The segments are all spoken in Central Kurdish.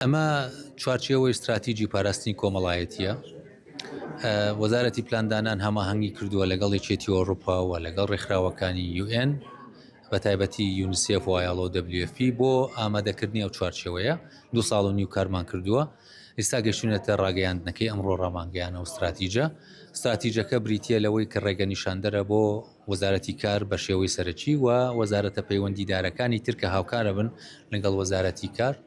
ئەمە چوارچێەوەی استراتیجی پاراستنی کۆمەڵایەتە وەزارەتی پلاندانان هەماهنگگی کردووە لەگەڵ یەکێتی ئۆروپا و لەگەڵ ڕێکخراوەکانی UN بە تایبەتی یونسف وایڵۆ WFP بۆ ئامادەکردنی ئەو چوارچێوەیە دو ساڵ و نیو کارمان کردووە ئستا گەشتونەتە ڕاگەیاندنەکەی ئەمڕۆ ڕامانگەیان و استراتیجە استراتیجەکە بریتە لەوەی کە ڕێگە نیشاندەرە بۆ وەزارەتی کار بە شێوەی سەرەکی و وەزارەتە پەیوەندیدارەکانی ترکە هاوکارە بن لەگەڵ وەزارەتی کار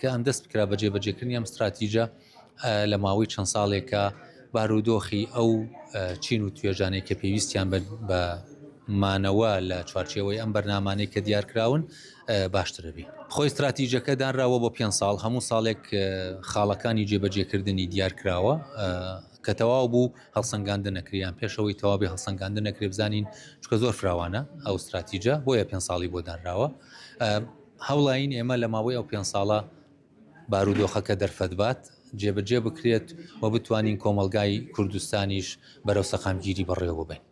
کە ئەم دەست بکرا بە جێبەجێکردنی ئەم ستراتیژە لە ماوەی چەند ساڵێکە بارودۆخی ئەو چین و توێژانەی کە پێویستیان بە مانەوە لە چوارچێوەی ئەم بەرنمانەی کە دیارکراون باشترەبی خۆی استراتیژەکە دانراوە بۆ پێ ساڵ هەموو ساڵێک خاڵەکانی جێبەجێکردنی دیارکراوە کە تەواو بوو هەڵسەنگاندن نەکریان پێشەوەی تەواوی هەڵسەنگاندن نەکرێ بزانین چکە زۆر فراوانە ئەو استراتیژە بۆیە پێ ساڵی بۆ دانراوە هەوڵاین ئێمە لە ماوەی ئەو پێنج ساڵە بارودۆخەکە دەرفەتبات جێبەجێ بکرێت و بتوانین کۆمەڵگای کوردستانیش بەرەو سەقامگیری بەڕێوەببەین.